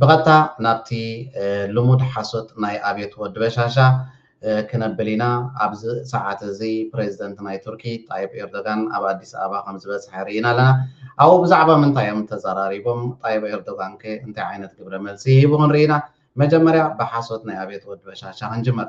ብቐጥታ ናብቲ ልሙድ ሓሶት ናይ ኣብዮት ወዲ በሻሻ ክነብል ኢና። ኣብዚ ሰዓት እዚ ፕረዚደንት ናይ ቱርኪ ጣይብ ኤርዶጋን ኣብ ኣዲስ ኣበባ ከም ዝበጽሐ ርኢና ኣለና። ኣብኡ ብዛዕባ ምንታይ እዮም ተዘራሪቦም? ጣይብ ኤርዶጋንከ እንታይ ዓይነት ግብረ መልሲ ሂቡ ክንርኢ ኢና። መጀመርያ ብሓሶት ናይ ኣብዮት ወዲ በሻሻ ክንጅምር።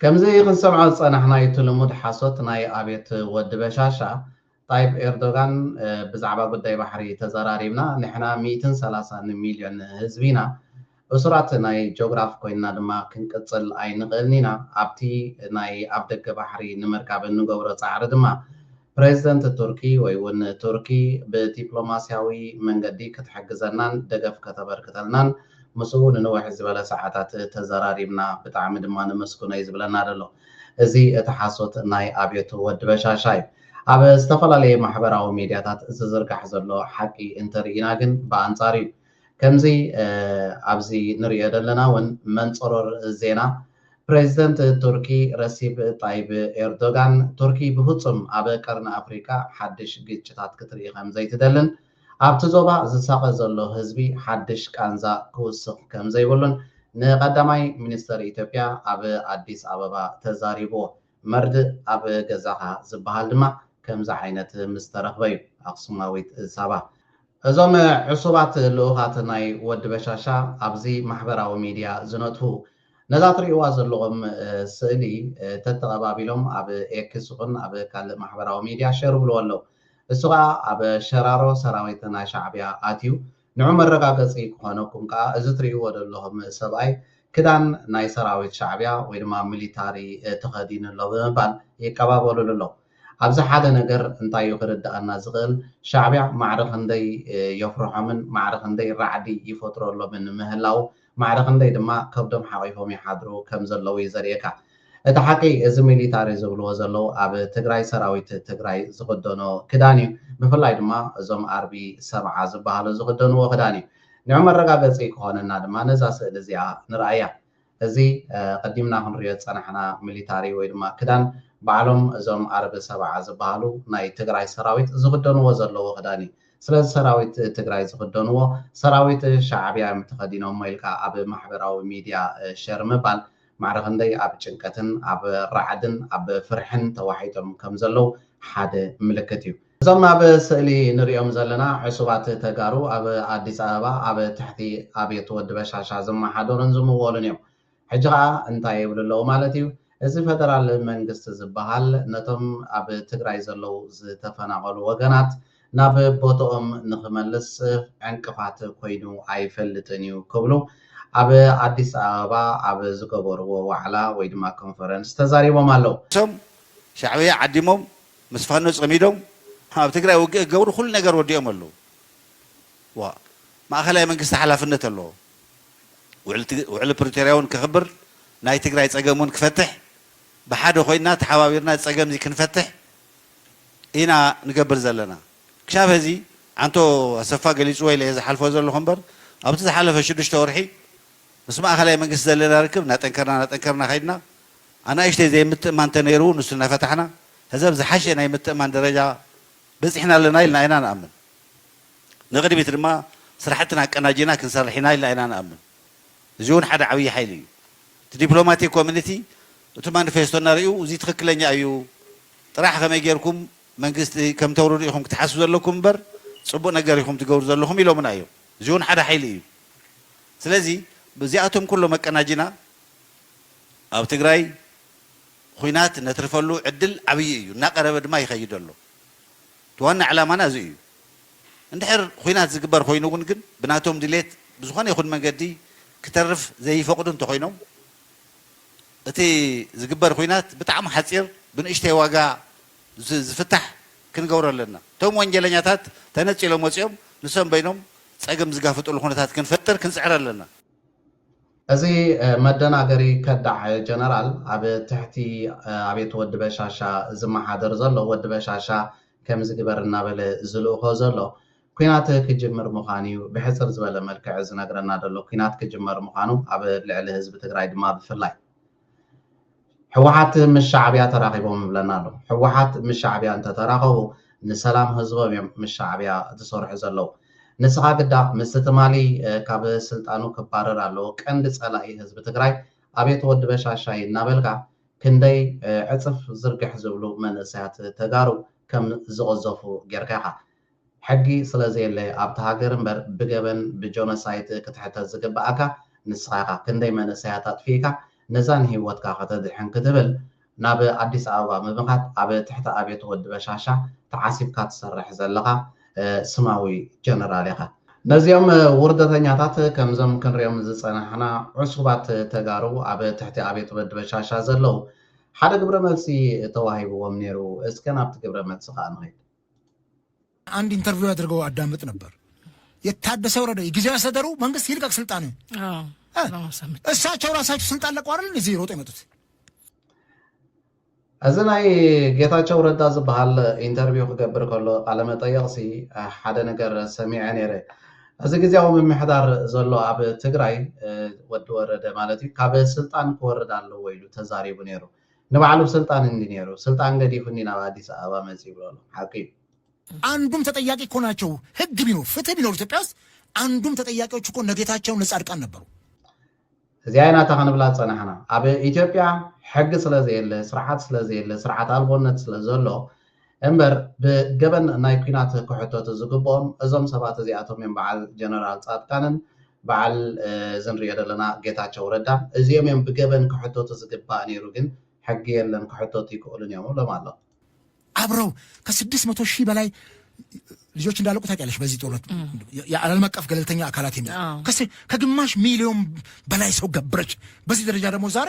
ከምዚ ክንሰምዖ ዝጸናሕናዩ እቲ ልሙድ ሓሶት ናይ ኣብየት ወዲ በሻሻ ጣይብ ኤርዶጋን ብዛዕባ ጉዳይ ባሕሪ ተዘራሪብና ንሕና ሚእትን ሰላሳን ሚልዮን ህዝቢ ኢና እሱራት ናይ ጆግራፍ ኮይንና ድማ ክንቅጽል ኣይንኽእልን ኢና ኣብቲ ናይ ኣፍደገ ባሕሪ ንምርካብ እንገብሮ ጻዕሪ ድማ ፕረዚደንት ቱርኪ ወይ'ውን ቱርኪ ብዲፕሎማስያዊ መንገዲ ክትሕግዘናን ደገፍ ከተበርክተልናን ምስኡ ንንውሕ ዝበለ ሰዓታት ተዘራሪብና ብጣዕሚ ድማ ነመስግኖ'ዩ ዝብለና ዘሎ። እዚ እቲ ሓሶት ናይ ኣብዮት ወዲ በሻሻ'ዩ። ኣብ ዝተፈላለየ ማሕበራዊ ሚድያታት ዝዝርጋሕ ዘሎ ሓቂ እንተርኢና ግን ብኣንጻሩ'ዩ። ከምዚ ኣብዚ ንርእዮ ዘለና ውን መንጽሮር ዜና ፕረዚደንት ቱርኪ ረሲፕ ጣይብ ኤርዶጋን ቱርኪ ብፍጹም ኣብ ቀርኒ ኣፍሪቃ ሓድሽ ግጭታት ክትርኢ ከምዘይትደልን ኣብቲ ዞባ ዝሳቐ ዘሎ ህዝቢ ሓድሽ ቃንዛ ክውስኽ ከምዘይብሉን ንቀዳማይ ሚኒስተር ኢትዮጵያ ኣብ ኣዲስ ኣበባ ተዛሪብዎ። መርድእ ኣብ ገዛኻ ዝበሃል ድማ ከምዚ ዓይነት ምስ ተረኽበ'ዩ። ኣኽሱማዊት ሳባ። እዞም ዕሱባት ልኡኻት ናይ ወዲ በሻሻ ኣብዚ ማሕበራዊ ሚድያ ዝነጥፉ ነዛ ትርእይዋ ዘለኹም ስእሊ ተተቐባቢሎም ኣብ ኤክስ ይኹን ኣብ ካልእ ማሕበራዊ ሚድያ ሸር ይብልዎ ኣለው። እሱ ከኣ ኣብ ሸራሮ ሰራዊት ናይ ሻዕብያ ኣትዩ ንዑ መረጋገጺ ክኾነኩም ከኣ እዚ ትርእይዎ ዘለኹም ሰብኣይ ክዳን ናይ ሰራዊት ሻዕብያ ወይ ድማ ሚሊታሪ ተኸዲኑ ኣሎ ብምባል ይቀባበሉሉ ኣለዉ። ኣብዚ ሓደ ነገር እንታይ እዩ ክርድኣና ዝኽእል ሻዕብያ ማዕረ ክንደይ የፍርሖምን ማዕረ ክንደይ ራዕዲ ይፈጥረሎምን ምህላዉ ማዕረ ክንደይ ድማ ከብዶም ሓቂፎም ይሓድሩ ከምዘለው እዩ ዘርእየካ እቲ ሓቂ እዚ ሚሊታሪ ዝብልዎ ዘለው ኣብ ትግራይ ሰራዊት ትግራይ ዝክደኖ ክዳን እዩ ብፍላይ ድማ እዞም ኣርቢ ሰብዓ ዝባሃሉ ዝክደንዎ ክዳን እዩ ንዑ መረጋገፂ ክኮነና ድማ ነዛ ስእሊ እዚኣ ንርኣያ እዚ ቀዲምና ክንሪኦ ዝፀናሕና ሚሊታሪ ወይ ድማ ክዳን ባዕሎም እዞም ኣርቢ ሰብዓ ዝባሃሉ ናይ ትግራይ ሰራዊት ዝክደንዎ ዘለው ክዳን እዩ ስለዚ ሰራዊት ትግራይ ዝኽደንዎ ሰራዊት ሻዕብያ እዮም ተኸዲኖሞ ኢልካ ኣብ ማሕበራዊ ሚድያ ሸር ምባል ማዕረ ክንደይ ኣብ ጭንቀትን ኣብ ራዕድን ኣብ ፍርሕን ተዋሒጦም ከም ዘለዉ ሓደ ምልክት እዩ። እዞም ኣብ ስእሊ ንሪኦም ዘለና ዕሱባት ተጋሩ ኣብ ኣዲስ ኣበባ ኣብ ትሕቲ ኣብዮት ወዲ በሻሻ ዝመሓደሩን ዝምወሉን እዮም። ሕጂ ከኣ እንታይ ይብሉ ኣለዉ ማለት እዩ? እዚ ፈደራል መንግስቲ ዝበሃል ነቶም ኣብ ትግራይ ዘለዉ ዝተፈናቐሉ ወገናት ናብ ቦትኦም ንኽመልስ ዕንቅፋት ኮይኑ ኣይፈልጥን እዩ ክብሉ ኣብ ኣዲስ ኣበባ ኣብ ዝገበርዎ ዋዕላ ወይ ድማ ኮንፈረንስ ተዛሪቦም ኣለዉ። እቶም ሻዕብያ ዓዲሞም ምስ ፋኖ ጸሚዶም ኣብ ትግራይ ውግእ ክገብሩ ኩሉ ነገር ወዲኦም ኣለዉ። ዋእ! ማእኸላይ መንግስቲ ሓላፍነት ኣለዎ። ውዕሊ ፕሪቶርያ እውን ከኽብር ናይ ትግራይ ፀገም እውን ክፈትሕ ብሓደ ኮይንና ተሓባቢርና እዚ ፀገም እዚ ክንፈትሕ ኢና ንገብር ዘለና። ክሻብ ሀዚ ዓንቶ ኣሰፋ ገሊፅዎ ኢለ እየ ዝሓልፎ ዘለኹ እምበር ኣብቲ ዝሓለፈ ሽዱሽተ ወርሒ ምስ ማእኸላይ መንግስቲ ዘለና ርክብ እናጠንከርና እናጠንከርና ከይድና ኣናእሽተይ ዘይምትእምማን ተነይሩ ንሱ እናፈታሕና ሀዚ ኣብ ዝሓሸ ናይ ምትእምማን ደረጃ በፂሕና ኣለና ኢልና ኢና ንኣምን። ንቕድሚት ድማ ስራሕትና ኣቀናጂና ክንሰርሕ ኢና ኢልና ኢና ንኣምን። እዚ እውን ሓደ ዓብዪ ሓይሊ እዩ። እቲ ዲፕሎማቲክ ኮሚኒቲ እቲ ማኒፌስቶ እናርእዩ እዚ ትኽክለኛ እዩ ጥራሕ ከመይ ገይርኩም መንግስቲ ከምተውርዱ ኢኹም ክትሓስቡ ዘለኩም እምበር ፅቡቕ ነገር ኢኹም ትገብሩ ዘለኹም ኢሎምና እዮም። እዚ እውን ሓደ ሓይሊ እዩ። ስለዚ እዚኣቶም ኩሎም ኣቀናጂና ኣብ ትግራይ ኹናት ነትርፈሉ ዕድል ዓብዪ እዩ። እናቐረበ ድማ ይኸይድ ኣሎ። እቲ ዋና ዕላማና እዚ እዩ። እንድሕር ኹናት ዝግበር ኾይኑ እውን ግን ብናቶም ድሌት ብዝኾነ ይኹን መንገዲ ክተርፍ ዘይፈቕዱ እንተኾይኖም እቲ ዝግበር ኹናት ብጣዕሚ ሓፂር ብንእሽተይ ዋጋ ዝፍታሕ ክንገብሮ ኣለና። እቶም ወንጀለኛታት ተነፂሎም ወፂኦም ንሶም በይኖም ፀገም ዝጋፍጥሉ ኹነታት ክንፈጥር ክንፅዕር ኣለና። እዚ መደናገሪ ከዳዕ ጀነራል ኣብ ትሕቲ ኣቤት ወዲ በሻሻ ዝመሓደር ዘሎ ወዲ በሻሻ ከምዚ ግበር እናበለ ዝልእኾ ዘሎ ኩናት ክጅምር ምዃኑ እዩ ብሕጽር ዝበለ መልክዕ ዝነግረና ዘሎ ኩናት ክጅመር ምዃኑ ኣብ ልዕሊ ህዝቢ ትግራይ ድማ ብፍላይ ሕወሓት ምስ ሻዕብያ ተራኺቦም ይብለና ኣሎ። ሕወሓት ምስ ሻዕብያ እንተተራኸቡ ንሰላም ህዝቦም እዮም ምስ ሻዕብያ ዝሰርሑ ዘለዉ። ንስኻ ግዳ ምስቲ ትማሊ ካብ ስልጣኑ ክባረር ኣለዎ ቀንዲ ፀላኢ ህዝቢ ትግራይ ኣቤት ወዲ በሻሻይ እናበልካ ክንደይ ዕፅፍ ዝርግሕ ዝብሉ መንእሰያት ተጋሩ ከም ዝቕዘፉ ጌርካ ኢኻ ሕጊ ስለ ዘየለ ኣብቲ ሃገር እምበር ብገበን ብጆነሳይት ክትሕተት ዝግበኣካ ንስኻ ኢኻ ክንደይ መንእሰያት ኣጥፊእካ ነዛ ንሂወትካ ከተድሕን ክትብል ናብ ኣዲስ ኣበባ ብምኻድ ኣብ ትሕቲ ኣብየት ወዲ በሻሻ ተዓሲብካ ትሰርሕ ዘለኻ ስማዊ ጀነራል ኢኻ። ነዚኦም ውርደተኛታት ከምዞም ክንሪኦም ዝጸናሕና ዑሱባት ተጋሩ ኣብ ትሕቲ ኣብየት ወዲ በሻሻ ዘለዉ ሓደ ግብረ መልሲ ተዋሂብዎም ኔሩ እስከ ናብቲ ግብረ መልሲ ከኣ ንኺድ። አንድ ኢንተርቪው አድርገው አዳምጥ ነበር። የታደሰ ወረደ የጊዜያዊ አስተዳደሩ መንግስት ይልቀቅ ስልጣን እሳቸው ራሳቸው ስልጣን ለቀው አይደል እዚህ ሮጦ የመጡት። እዚ ናይ ጌታቸው ረዳ ዝበሃል ኢንተርቪው ክገብር ከሎ ቃለመጠየቕ ሲ ሓደ ነገር ሰሚዐ ነይረ። እዚ ግዜያዊ ምምሕዳር ዘሎ ኣብ ትግራይ ወዲ ወረደ ማለት እዩ ካብ ስልጣን ክወርድ ኣለዎ ኢሉ ተዛሪቡ ነይሩ። ንባዕሉ ስልጣን እንዲ ነይሩ ስልጣን ገዲፉኒ ናብ ኣዲስ ኣበባ መፅዩ በሎም ሓቁ እዩ። ኣንዱም ተጠያቂ እኮ ናቸው ህግ ቢኖር ፍትህ ቢኖር ኢትዮጵያ ውስጥ ኣንዱም ተጠያቂዎች እኮ እነ ጌታቸው እነ ጻድቃን ነበሩ። እዚኣ ኢና እታ ክንብላ ዝጸናሕና ኣብ ኢትዮጵያ ሕጊ ስለዘየለ ስርዓት ስለዘየለ ስርዓት ኣልቦነት ስለዘሎ እምበር ብገበን ናይ ኩናት ክሕተቱ ዝግብኦም እዞም ሰባት እዚኣቶም እዮም በዓል ጀነራል ፃድቃንን በዓል እዚ ንሪኦ ዘለና ጌታቸው ረዳን እዚኦም እዮም ብገበን ክሕተቱ ዝግባእ ነይሩ ግን ሕጊ የለን ክሕተቱ ኣይክእሉን እዮም እብሎም ኣሎ። አብረው ከስድስት መቶ ሺህ በላይ ልጆች እንዳለቁ ታውቂያለሽ። በዚህ ጦርነት የዓለም አቀፍ ገለልተኛ አካላት የሚል ከግማሽ ሚሊዮን በላይ ሰው ገብረች። በዚህ ደረጃ ደግሞ ዛሬ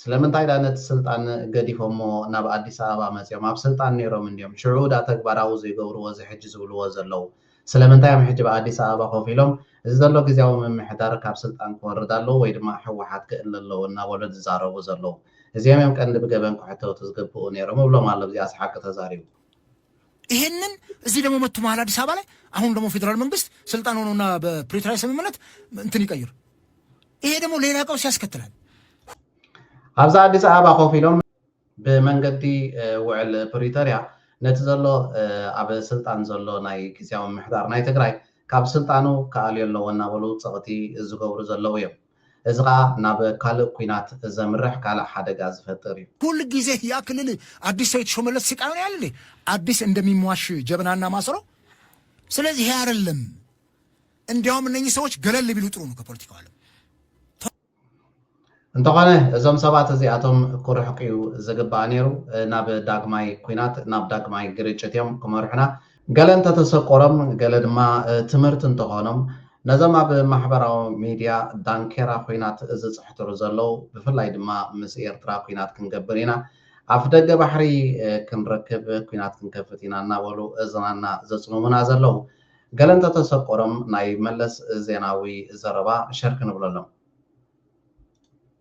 ስለምንታይ ዳኣ ነቲ ስልጣን ገዲፎሞ ናብ ኣዲስ ኣበባ መጽዮም ኣብ ስልጣን ኔሮም እንድዮም ሽዑ ዳኣ ተግባራዊ ዘይገብርዎ እዚ ሕጂ ዝብልዎ ዘለዉ ስለምንታይ እዮም ሕጂ ብ ኣዲስ ኣበባ ኮፍ ኢሎም እዚ ዘሎ ግዝያዊ ምምሕዳር ካብ ስልጣን ክወርድ ኣለዎ ወይ ድማ ሕዋሓት ክእለ ኣለዎ እናበሉ ዝዛረቡ ዘለዉ እዚኦም እዮም ቀንዲ ብገበን ክሕተቱ ዝግብኡ ኔሮም እብሎም ኣሎ ብዚኣስ ሓቂ ተዛሪቡ ይሄንን እዚህ ደግሞ መቱ መሀል አዲስ አበባ ላይ አሁን ደግሞ ፌዴራል መንግስት ስልጣን ሆኖና በፕሪቶሪያ ስምምነት እንትን ይቀይር። ይሄ ደግሞ ሌላ ቀውስ ያስከትላል። ኣብዚ አዲስ አበባ ኮፍ ኢሎም ብመንገዲ ውዕል ፕሪቶሪያ ነቲ ዘሎ ኣብ ስልጣን ዘሎ ናይ ግዜያዊ ምሕዳር ናይ ትግራይ ካብ ስልጣኑ ክኣልዮ ኣለዎ እናበሉ ፀቕቲ ዝገብሩ ዘለዉ እዮም። እዚ ከኣ ናብ ካልእ ኩናት ዘምርሕ ካልእ ሓደጋ ዝፈጥር እዩ። ኩል ጊዜ ያ ክልል ኣዲስ ሰው የተሾመለት ስቃዩን ያል እንዴ ኣዲስ እንደሚሟሽ ጀበናና ማሰሮ ስለዚህ ይሄ አይደለም እንዲያውም እነኚህ ሰዎች ገለል ቢሉ ጥሩ ነው ከፖለቲካው ዓለም እንተኾነ እዞም ሰባት እዚኣቶም ክርሕቁ እዩ ዝግባእ ነይሩ። ናብ ዳግማይ ኩናት ናብ ዳግማይ ግርጭት እዮም ክመርሑና። ገለ እንተተሰቆሮም ገለ ድማ ትምህርቲ እንተኾኖም ነዞም ኣብ ማሕበራዊ ሚድያ ዳንኬራ ኩናት ዝጽሕትሩ ዘለው ብፍላይ ድማ ምስ ኤርትራ ኩናት ክንገብር ኢና ኣፍደገ ባሕሪ ክንረክብ ኩናት ክንከፍት ኢና እናበሉ እዝናና ዘጽምሙና ዘለው ገለ እንተተሰቆሮም ናይ መለስ ዜናዊ ዘረባ ሸር ክንብለሎም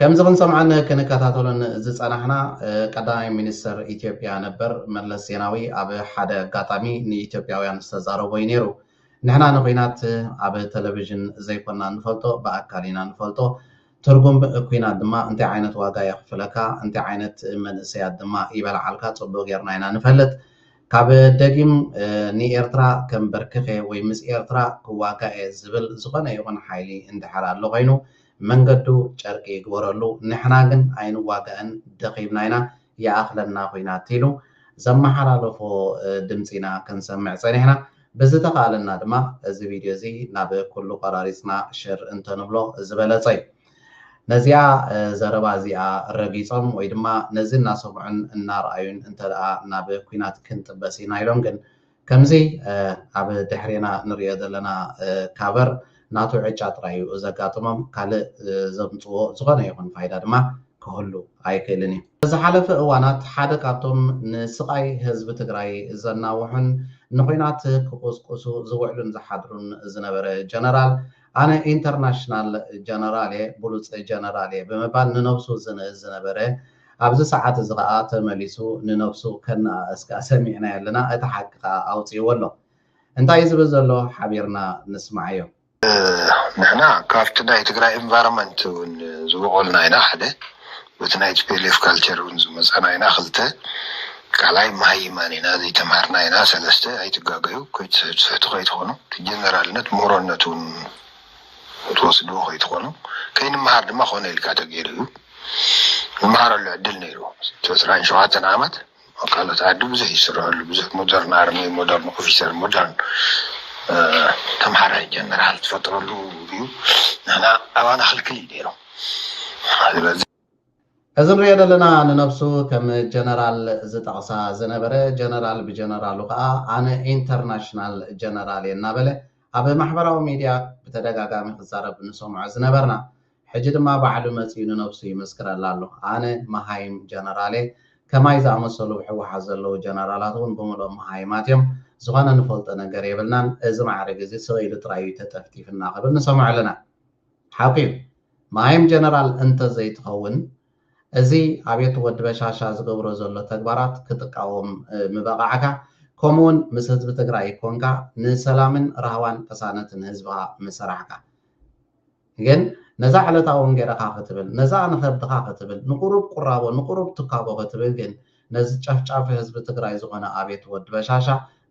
ከምዚ ክንሰምዖን ክንከታተሎን ዝጸናሕና ቀዳማይ ሚኒስተር ኢትዮጵያ ነበር መለስ ዜናዊ ኣብ ሓደ ኣጋጣሚ ንኢትዮጵያውያን ዝተዛረቦ እዩ ነይሩ። ንሕና ንኲናት ኣብ ተለቪዥን ዘይኮና እንፈልጦ ብኣካል ኢና እንፈልጦ። ትርጉም ኲናት ድማ እንታይ ዓይነት ዋጋ የኽፍለካ፣ እንታይ ዓይነት መንእሰያት ድማ ይበልዓልካ ጽቡቕ ጌርና ኢና ንፈልጥ። ካብ ደጊም ንኤርትራ ከምበርክኽ እየ ወይ ምስ ኤርትራ ክዋጋእ እየ ዝብል ዝኾነ ይኹን ሓይሊ እንድሕር ኣሎ ኮይኑ መንገዱ ጨርቂ ይግበረሉ ንሕና ግን ኣይንዋጋእን ደኺምና ኢና ይኣኽለና ኹናት ኢሉ ዘመሓላለፎ ድምፂ ኢና ክንሰምዕ ፀኒሕና ብዝተኽኣለና ድማ እዚ ቪድዮ እዚ ናብ ኩሉ ቆራሪፅና ሸር እንተንብሎ ዝበለፀ እዩ ነዚኣ ዘረባ እዚኣ ረጊፆም ወይ ድማ ነዚ እናሰምዑን እናርኣዩን እንተድኣ ናብ ኹናት ክንጥበስ ኢና ኢሎም ግን ከምዚ ኣብ ድሕሬና ንርእዮ ዘለና ካቨር ናቱ ዕጫ ጥራይ እዩ ዘጋጥሞም ካልእ ዘምጽዎ ዝኾነ ይኹን ፋይዳ ድማ ክህሉ ኣይክእልን እዩ። ኣብ ዝሓለፈ እዋናት ሓደ ካብቶም ንስቓይ ህዝቢ ትግራይ ዘናውሑን ንኹናት ክቑስቁሱ ዝውዕሉን ዝሓድሩን ዝነበረ ጀነራል ኣነ ኢንተርናሽናል ጀነራል እየ ብሉጽ ጀነራል እየ ብምባል ንነብሱ ዝንእዝ ዝነበረ ኣብዚ ሰዓት እዚ ከኣ ተመሊሱ ንነብሱ ከነኣእስ ከኣ ሰሚዕናዮ ኣለና እቲ ሓቂ ከኣ ኣውጺእዎ ኣሎ እንታይ እዩ ዝብል ዘሎ ሓቢርና ንስማዓዮ። ንሕና ካብቲ ናይ ትግራይ ኢንቫሮመንት ውን ዝቦቆልና ኢና ሓደ በቲ ናይ tplf ካልቸር ውን ዝመጻና ኢና ክልተ ካልኣይ ማሃይማን ኢና ዘይተምሃርና ኢና ሰለስተ ኣይትጋገዩ ከይትስሕትስሕቱ ከይትኮኑ እቲ ጀነራልነት ሞሮነት ውን ትወስድዎ ከይትኾኑ ከይንመሃር ድማ ኮነ ኢልካ ተገይሩ እዩ ንመሃረሉ ዕድል ነይሩ ዕስራን ሸውዓተን ዓመት ካልኦት ዓዲ ብዙሕ ይስርሐሉ ብዙሕ ሞደርን ኣርሚ ሞደርን ኦፊሰር ሞደርን ተምሃራይ ጀነራል ትፈጥረሉ እዩ ንሕና ኣባና ክልክል እዩ ነይሩ እዚ ንሪኦ ዘለና ንነብሱ ከም ጀነራል ዝጠቕሳ ዝነበረ ጀነራል ብጀነራሉ ከኣ ኣነ ኢንተርናሽናል ጀነራል እየ እናበለ ኣብ ማሕበራዊ ሚድያ ብተደጋጋሚ ክዛረብ ንሰምዖ ዝነበርና ሕጂ ድማ ባዕሉ መጺኡ ንነብሱ ይምስክረላ ኣሎ ኣነ መሃይም ጀነራል እየ ከማይ ዝኣመሰሉ ብ ሕወሓት ዘለዉ ጀነራላት ውን ብምልኦም መሃይማት እዮም ዝኾነ ንፈልጦ ነገር የብልናን እዚ ማዕርግ እዚ ስቕ ኢሉ ጥራይ እዩ ተጠፍጢፍና ክብል ንሰምዖ ኣለና። ሓቂዩ መሃይም ጀነራል እንተ ዘይትኸውን እዚ ኣብየት ወዲ በሻሻ ዝገብሮ ዘሎ ተግባራት ክትቃወም ምበቃዕካ ኮሙውን ምስ ህዝቢ ትግራይ ኮንካ ንሰላምን ራህዋን ቅሳነትን ህዝብኻ ምሰራሕካ ግን ነዛ ዕለታዊ እንጌረኻ ክትብል ነዛ ንኸብድኻ ክትብል ንቁሩብ ቁራቦ ንቁሩብ ትካቦ ክትብል ግን ነዚ ጨፍጫፊ ህዝቢ ትግራይ ዝኾነ ኣብየት ወዲ በሻሻ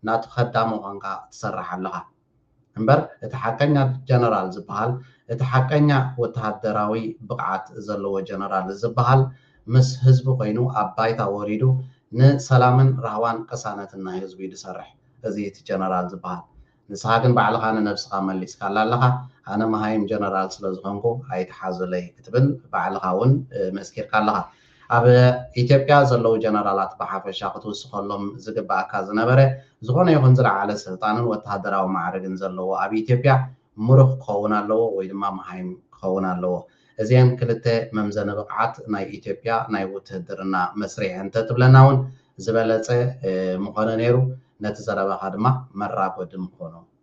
ናቱ ከዳሚ ኮንካ ትሰርሕ ኣለኻ። እምበር እቲ ሓቀኛ ጀነራል ዝበሃል እቲ ሓቀኛ ወተሃደራዊ ብቕዓት ዘለዎ ጀነራል ዝበሃል ምስ ህዝቢ ኮይኑ ኣብ ባይታ ወሪዱ ንሰላምን ራህዋን ቅሳነትን ናይ ህዝቡ እዩ ዝሰርሕ እዚ እቲ ጀነራል ዝበሃል ንስኻ ግን ባዕልኻ ንነብስኻ መሊስካላ ኣለኻ ኣነ መሃይም ጀነራል ስለዝኾንኩ ኣይትሓዙለይ ክትብል ባዕልኻ እውን መስኪርካ ኣለኻ ኣብ ኢትዮጵያ ዘለዉ ጀነራላት ብሓፈሻ ክትውስኸሎም ዝግበኣካ ዝነበረ ዝኾነ ይኹን ዝለዓለ ስልጣንን ወተሃደራዊ ማዕርግን ዘለዎ ኣብ ኢትዮጵያ ምሩኽ ክኸውን ኣለዎ ወይ ድማ መሃይም ክኸውን ኣለዎ። እዚኤን ክልተ መምዘኒ ብቕዓት ናይ ኢትዮጵያ ናይ ውትህድርና መስርሕ እንተትብለና እውን ዝበለጸ ምኾነ ነይሩ። ነቲ ዘረባኻ ድማ መራጎዲ ምኾኑ።